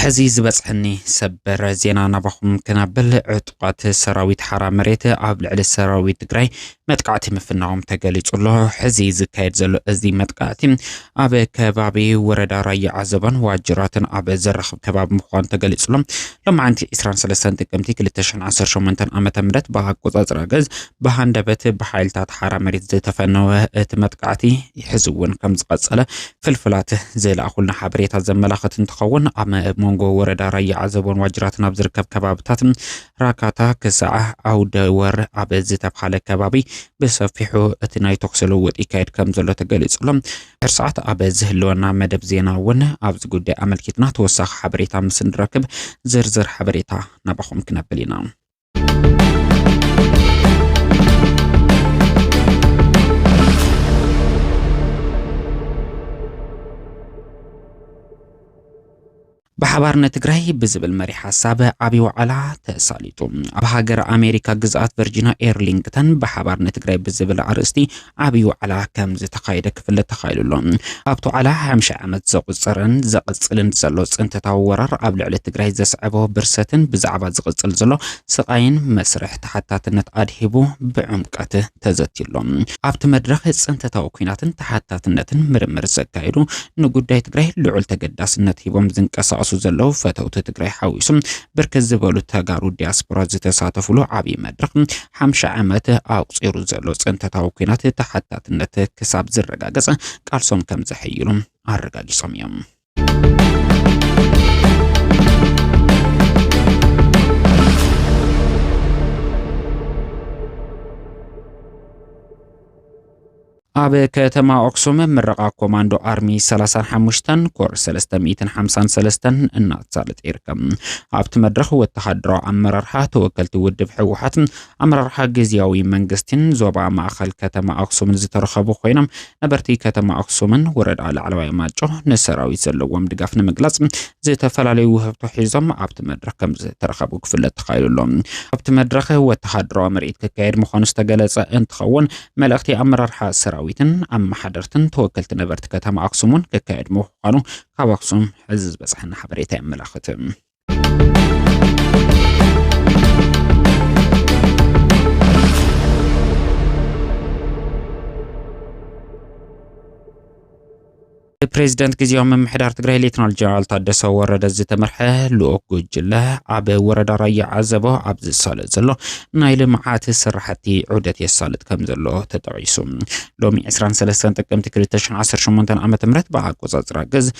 ሕዚ ዝበፅሐኒ ሰበር ዜና ናባኹም ክናብል ዕጡቓት ሰራዊት ሓራ መሬት ኣብ ልዕሊ ሰራዊት ትግራይ መጥቃዕቲ ምፍናዎም ተገሊጹ ኣሎ። ሕዚ ዝካየድ ዘሎ እዚ መጥቃዕቲ ኣብ ከባቢ ወረዳ ራያ ዓዘቦን ዋጅራትን ኣብ ዘራኽብ ከባቢ ምዃኑ ተገሊጹ ኣሎ። ሎማዕንቲ 23 ጥቅምቲ 2018 ዓ.ም ብኣቆጻጽራ ገዝ ብሃንደበት ብሓይልታት ሓራ መሬት ዝተፈነወ እቲ መጥቃዕቲ ሕዚ እውን ከም ዝቐጸለ ፍልፍላት ዝለኣኹልና ሓበሬታ ዘመላኽት እንትኸውን ኣብ መንጎ ወረዳ ራያ ዓዘቦን ዋጅራትን ኣብ ዝርከብ ከባብታት ራካታ ክሳዕ ዓውደ ወር ኣብ ዝተብሃለ ከባቢ ብሰፊሑ እቲ ናይ ተኩሲ ልውውጥ ይካየድ ከም ዘሎ ተገሊጹ ኣሎ። ድሕሪ ሰዓት ኣብ ዝህልወና መደብ ዜና እውን ኣብዚ ጉዳይ ኣመልኪትና ተወሳኺ ሓበሬታ ምስ እንረክብ ዝርዝር ሓበሬታ ናባኹም ክነብል ኢና። ብሓባር ንትግራይ ብዝብል መሪ ሓሳብ ዓብዪ ዋዕላ ተሳሊጡ። ኣብ ሃገር ኣሜሪካ ግዝኣት ቨርጂና ኤርሊንግተን ብሓባር ንትግራይ ብዝብል ኣርእስቲ ዓብዪ ዋዕላ ከም ዝተኻየደ ክፍለጥ ተኻኢሉ ኣሎ። ኣብቲ ዋዕላ ሓምሻ ዓመት ዘቑፅርን ዘቕፅልን ዘሎ ፅንተታዊ ወራር ኣብ ልዕሊ ትግራይ ዘስዐቦ ብርሰትን ብዛዕባ ዝቕፅል ዘሎ ስቓይን መስርሕ ተሓታትነት ኣድሂቡ ብዕምቀት ተዘትዩሎም። ኣብቲ መድረኽ ፅንተታዊ ኲናትን ተሓታትነትን ምርምር ዘካየዱ፣ ንጉዳይ ትግራይ ልዑል ተገዳስነት ሂቦም ዝንቀሳቐሱ ዘለዉ ፈተውቲ ትግራይ ሓዊሱ ብርክት ዝበሉ ተጋሩ ዲያስፖራ ዝተሳተፉሉ ዓብዪ መድረኽ ሓምሻ ዓመት ኣቑፂሩ ዘሎ ፅንተታዊ ኲናት ተሓታትነት ክሳብ ዝረጋገፅ ቃልሶም ከምዘሕይሉ ኣረጋጊፆም እዮም። ኣብ ከተማ ኣክሱም ምረቓ ኮማንዶ ኣርሚ 35 ኮር 353 እናተሳለጠ ይርከብ። ኣብቲ መድረኽ ወተሃደራዊ ኣመራርሓ ተወከልቲ ውድብ ህወሓት ኣመራርሓ ግዝያዊ መንግስቲን ዞባ ማእኸል ከተማ ኣክሱምን ዝተረኸቡ ኮይኖም ነበርቲ ከተማ ኣክሱምን ወረዳ ላዕለዋይ ማጮ ንሰራዊት ዘለዎም ድጋፍ ንምግላፅ ዝተፈላለዩ ውህብቶ ሒዞም ኣብቲ መድረኽ ከም ዝተረኸቡ ክፍለጥ ተኻኢሉ ኣሎ። ኣብቲ መድረኽ ወተሃደራዊ ምርኢት ክካየድ ምዃኑ ዝተገለፀ እንትኸውን መልእኽቲ ኣመራርሓ ሰራዊትን ኣመሓደርትን ተወከልቲ ነበርቲ ከተማ ኣክሱም እውን ክካየድ ምዃኑ ካብ ኣክሱም ሕዚ ዝበፅሐና ሓበሬታ የመላኽት። ብፕሬዝደንት ግዜያዊ ምምሕዳር ትግራይ ሌትናል ጀነራል ታደሰ ወረደ ዝተመርሐ ልኡክ ጉጅለ ኣብ ወረዳ ራያ ዓዘቦ ኣብ ዝሳለጥ ዘሎ ናይ ልምዓት ስራሕቲ ዑደት የሳልጥ ከም ዘሎ ተጠቒሱ ሎሚ 23 ጥቅምቲ 2018 ዓ ም ብኣቆፃፅራ ግዝ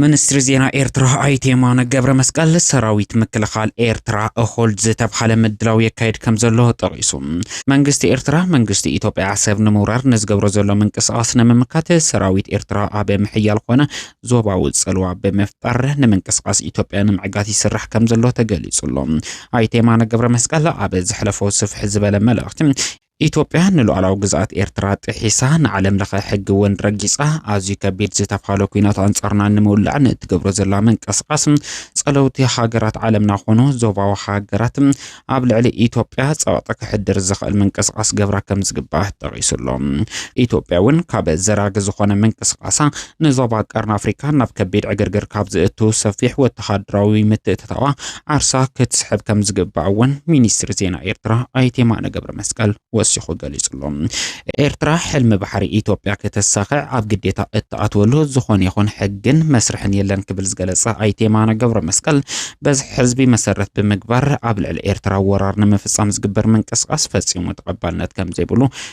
ምንስትሪ ዜና ኤርትራ ኣይተ የማነ ገብረመስቀል፣ ሰራዊት ምክልኻል ኤርትራ እኹል ዝተብሃለ ምድላው የካይድ ከምዘሎ ጠቒሱ፣ መንግስቲ ኤርትራ መንግስቲ ኢትዮጵያ ዓሰብ ንምውራር ንዝገብሮ ዘሎ ምንቅስቓስ ንምምካት ሰራዊት ኤርትራ ኣብ ምሕያል ኮነ ዞባዊ ጽልዋ ብምፍጣር ንምንቅስቓስ ኢትዮጵያ ንምዕጋት ይስራሕ ከምዘሎ ተገሊጹ ኣሎ። ኣይተ የማነ ገብረመስቀል ኣብ ዘሕለፎ ስፍሕ ዝበለ መልእኽቲ፣ ኢትዮጵያ ንሉኣላዊ ግዝኣት ኤርትራ ጥሒሳ ንዓለም ለኸ ሕጊ እውን ረጊጻ ኣዝዩ ከቢድ ዝተብሃለ ኲናት ኣንጻርና ንምውላዕ ንእትገብሮ ዘላ ምንቅስቓስ ጸለውቲ ሃገራት ዓለምና ኮኑ ዞባዊ ሃገራት ኣብ ልዕሊ ኢትዮጵያ ጸቕጢ ክሕድር ዝኽእል ምንቅስቓስ ገብራ ከም ዝግባእ ጠቒሱ ኣሎ። ኢትዮጵያ እውን ካብ ዘራጊ ዝኾነ ምንቅስቓሳ ንዞባ ቀርኒ ኣፍሪካ ናብ ከቢድ ዕግርግር ካብ ዘእቱ ሰፊሕ ወተሃደራዊ ምትእትታዋ ዓርሳ ክትስሕብ ከም ዝግባእ እውን ሚኒስትሪ ዜና ኤርትራ ኣይተ የማነ ገብረ መስቀል ወሲኹ ገሊጹ ኣሎ። ኤርትራ ሕልሚ ባሕሪ ኢትዮጵያ ከተሳኽዕ ኣብ ግዴታ እትኣትወሉ ዝኾነ ይኹን ሕግን መስርሕን የለን ክብል ዝገለጸ ኣይተ የማነ ገብረ መስቀል በዝሒ ህዝቢ መሰረት ብምግባር ኣብ ልዕሊ ኤርትራ ወራር ንምፍጻም ዝግበር ምንቅስቓስ ፈጺሙ ተቐባልነት ከም ዘይብሉ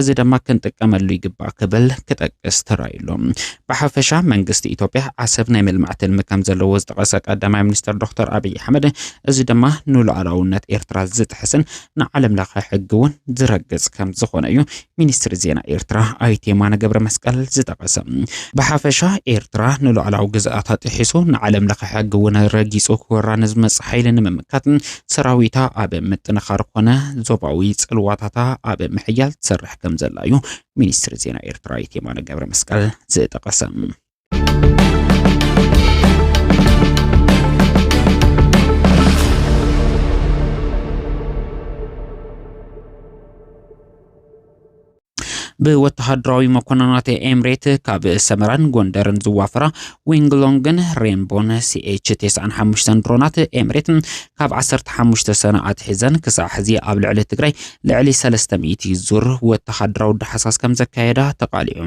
እዚ ደማ ክንጥቀመሉ ይግባእ ክብል ክጠቅስ ተራእዩሎ። ብሓፈሻ መንግስቲ ኢትዮጵያ ዓሰብ ናይ ምልማዕ ትልሚ ከምዘለዎ ዝጠቐሰ ቀዳማይ ሚኒስተር ዶክተር ኣብይ ኣሕመድ እዚ ደማ ንሉኣላውነት ኤርትራ ዝጥሕስን ንዓለም ለኸ ሕጊ እውን ዝረግጽ ከምዝኾነ እዩ ሚኒስትሪ ዜና ኤርትራ ኣይተ የማነ ገብረመስቀል ዝጠቐሰ። ብሓፈሻ ኤርትራ ንሉኣላዊ ግዝኣታ ጥሒሱ ንዓለም ለኸ ሕጊ እውን ረጊጹ ክወራ ንዝመጽእ ሓይሊ ንምምካት ሰራዊታ ኣብ ምጥንኻር ኮነ ዞባዊ ጽልዋታታ ኣብ ምሕያል ትሰርሕ ከም ዘላ እዩ ሚኒስትሪ ዜና ኤርትራ የማነ ገብረ መስቀል ዝጠቐሰ። ብወተሃደራዊ መኮንናት ኤምሬት ካብ ሰመራን ጎንደርን ዝዋፈራ ዊንግሎንግን ሬንቦን ሲኤች 95 ድሮናት ኤምሬት ካብ 15 ሰነ ኣትሒዘን ክሳዕ ሕዚ ኣብ ልዕሊ ትግራይ ልዕሊ 300 ዙር ወተሃደራዊ ዳሕሳስ ከም ዘካየዳ ተቓሊዑ።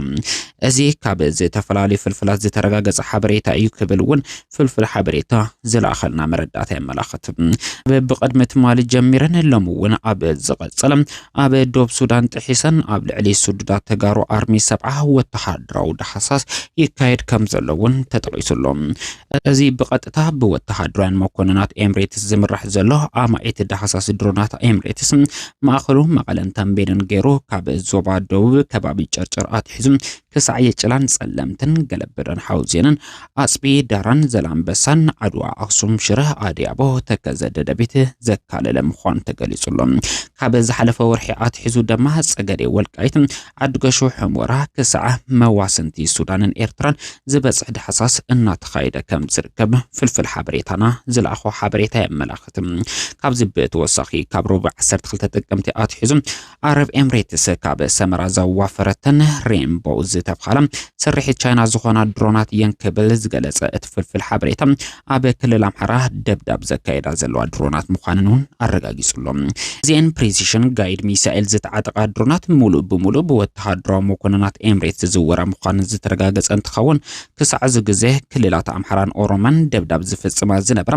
እዚ ካብ ዝተፈላለዩ ፍልፍላት ዝተረጋገፀ ሓበሬታ እዩ ክብል እውን ፍልፍል ሓበሬታ ዝለኣኸልና መረዳእታ የመላኽት። ኣብ ብቕድሚ ትማሊ ጀሚረን ሎሚ እውን ኣብ ዝቐጸለ ኣብ ዶብ ሱዳን ጥሒሰን ኣብ ልዕሊ ስዱዳት ተጋሩ ኣርሚ ሰብዓ ወተሃደራዊ ዳህሳስ ይካየድ ከም ዘሎ እውን ተጠቒሱ ኣሎ። እዚ ብቐጥታ ብወተሃደራውያን መኮንናት ኤምሬትስ ዝምራሕ ዘሎ ኣማኢት ዳህሳስ ድሮናት ኤምሬትስ ማእኸሉ መቐለን ተምቤንን ገይሩ ካብ ዞባ ደቡብ ከባቢ ጨርጨር ኣትሒዙ ክሳዕ የጭላን ጸለምትን፣ ገለበደን ሓውዜንን፣ ኣጽቢ ዳራን ዘላንበሳን፣ ዓድዋ፣ ኣኽሱም፣ ሽረ፣ ኣድያቦ፣ ተከዘ፣ ደደቢት ዘካለለ ምዃኑ ተገሊጹ ኣሎ። ካብ ዝሓለፈ ወርሒ ኣትሒዙ ደማ ጸገዴ፣ ወልቃይት፣ ዓድገሹ፣ ሕሞራ ክሳዕ መዋስንቲ ሱዳንን ኤርትራን ዝበጽሕ ዳሕሳስ እናተኻየደ ከም ዝርከብ ፍልፍል ሓበሬታና ዝለኣኾ ሓበሬታ የመላኽት። ካብዚ ብተወሳኺ ካብ ረቡዕ ዓሰርተ ክልተ ጥቅምቲ ኣትሒዙ ዓረብ ኤምሬትስ ካብ ሰመራ ዘዋፈረተን ሬንቦ ዝተብሃላ ስርሒት ቻይና ዝኾና ድሮናት እየን ክብል ዝገለጸ እቲ ፍልፍል ሓበሬታ ኣብ ክልል ኣምሓራ ደብዳብ ዘካየዳ ዘለዋ ድሮናት ምዃንን እውን ኣረጋጊጹሎም። እዚኤን ፕሪሲሽን ጋይድ ሚሳኤል ዝተዓጠቓ ድሮናት ሙሉእ ብሙሉእ ብወተሃደራዊ መኮንናት ኤምሬት ዝዝወራ ምዃነን ዝተረጋገጸ እንትኸውን ክሳዕ እዚ ግዜ ክልላት ኣምሓራን ኦሮመን ደብዳብ ዝፍጽማ ዝነበራ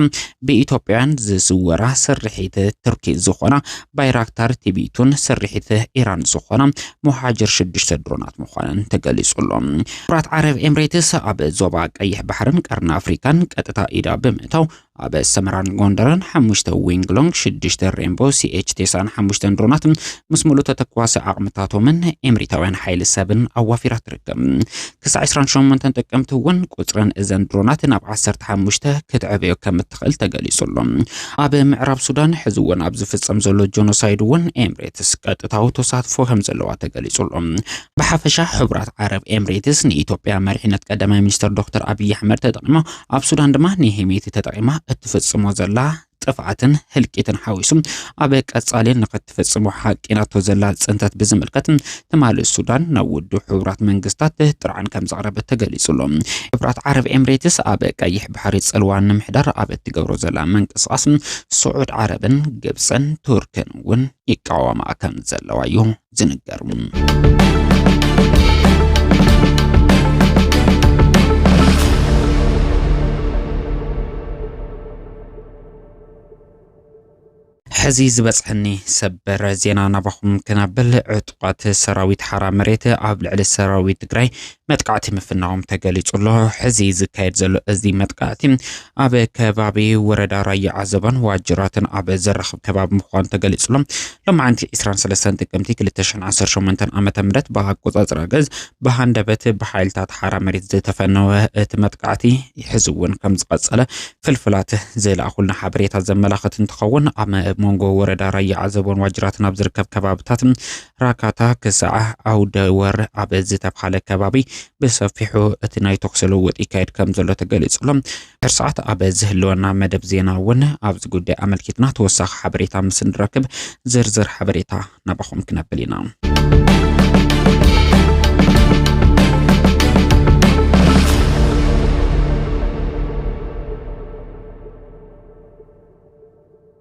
ብኢትዮጵያውያን ዝዝወራ ስርሒት ቱርኪ ዝኾና ባይራክታር ቲቢቱን ስርሒት ኢራን ዝኾና ሞሃጅር ሽዱሽተ ድሮናት ምዃነን ተገሊጹ ኣሎ። ኩራት ዓረብ ኤምሬትስ ኣብ ዞባ ቀይሕ ባሕርን ቀርኒ ኣፍሪካን ቀጥታ ኢዳ ብምእታው ኣብ ሰመራን ጎንደርን ሓሙሽተ ዊንግሎንግ ሽዱሽተ ሬንቦ ሲኤች ቴሳን ሓሙሽተን ድሮናት ምስ ሙሉእ ተተኳሲ ዓቕምታቶምን ኤምሪታውያን ሓይሊ ሰብን ኣዋፊራ ትርከብ። ክሳዕ ዕስራን ሸሞንተን ጥቅምቲ እውን ቁፅረን እዘን ድሮናት ናብ ዓሰርተ ሓሙሽተ ክትዕበዮ ከም እትኽእል ተገሊጹ ኣሎ። ኣብ ምዕራብ ሱዳን ሕዚ እውን ኣብ ዝፍጸም ዘሎ ጆኖሳይድ እውን ኤምሬትስ ቀጥታዊ ተሳትፎ ከም ዘለዋ ተገሊጹ ኣሎ። ብሓፈሻ ሕቡራት ዓረብ ኤምሬትስ ንኢትዮጵያ መሪሕነት ቀዳማይ ሚኒስተር ዶክተር ኣብይ ኣሕመድ ተጠቂማ ኣብ ሱዳን ድማ ንሄሜቲ ተጠቂማ እትፍጽሞ ዘላ ጥፍዓትን ህልቂትን ሓዊሱ ኣብ ቀጻሊ ንኸትፍጽሞ ሓቂናቶ ዘላ ጽንተት ብዝምልከት ትማሊ ሱዳን ናብ ውድብ ሕቡራት መንግስታት ጥርዓን ከም ዘቕረበት ተገሊጹ ኣሎ። ሕብራት ዓረብ ኤምሬትስ ኣብ ቀይሕ ባሕሪ ጽልዋ ንምሕዳር ኣብ እትገብሮ ዘላ ምንቅስቓስ ስዑድ ዓረብን ግብጽን ቱርክን እውን ይቃወማ ከም ዘለዋ እዩ ሕዚ ዝበፅሐኒ ሰበር ዜና ናባኹም ክነብል ዕጡቓት ሰራዊት ሓራ መሬት ኣብ ልዕሊ ሰራዊት ትግራይ መጥቃዕቲ ምፍናዎም ተገሊጹ ኣሎ። ሕዚ ዝካየድ ዘሎ እዚ መጥቃዕቲ ኣብ ከባቢ ወረዳ ራያ ዓዘባን ዋጅራትን ኣብ ዘራኽብ ከባቢ ምዃኑ ተገሊጹ ኣሎ። ሎማዕንቲ 23 ጥቅምቲ 2018 ዓ ም ብኣቆጻጽራ ገዝ ብሃንደበት ብሓይልታት ሓራ መሬት ዝተፈነወ እቲ መጥቃዕቲ ሕዚ እውን ከም ዝቐጸለ ፍልፍላት ዝለኣኹልና ሓበሬታ ዘመላኽት እንትኸውን ኣብ መንጎ ወረዳ ራያ ዓዘቦን ዋጅራትን ኣብ ዝርከብ ከባብታት ራካታ ክሳዕ ዓውደ ወር ኣብ ዝተብሃለ ከባቢ ብሰፊሑ እቲ ናይ ተኩሲ ልውውጥ ይካየድ ከም ዘሎ ተገሊጹ ኣሎ። ድሕሪ ሰዓት ኣብ ዝህልወና መደብ ዜና እውን ኣብዚ ጉዳይ ኣመልኪትና ተወሳኺ ሓበሬታ ምስ እንረክብ ዝርዝር ሓበሬታ ናባኹም ክነብል ኢና።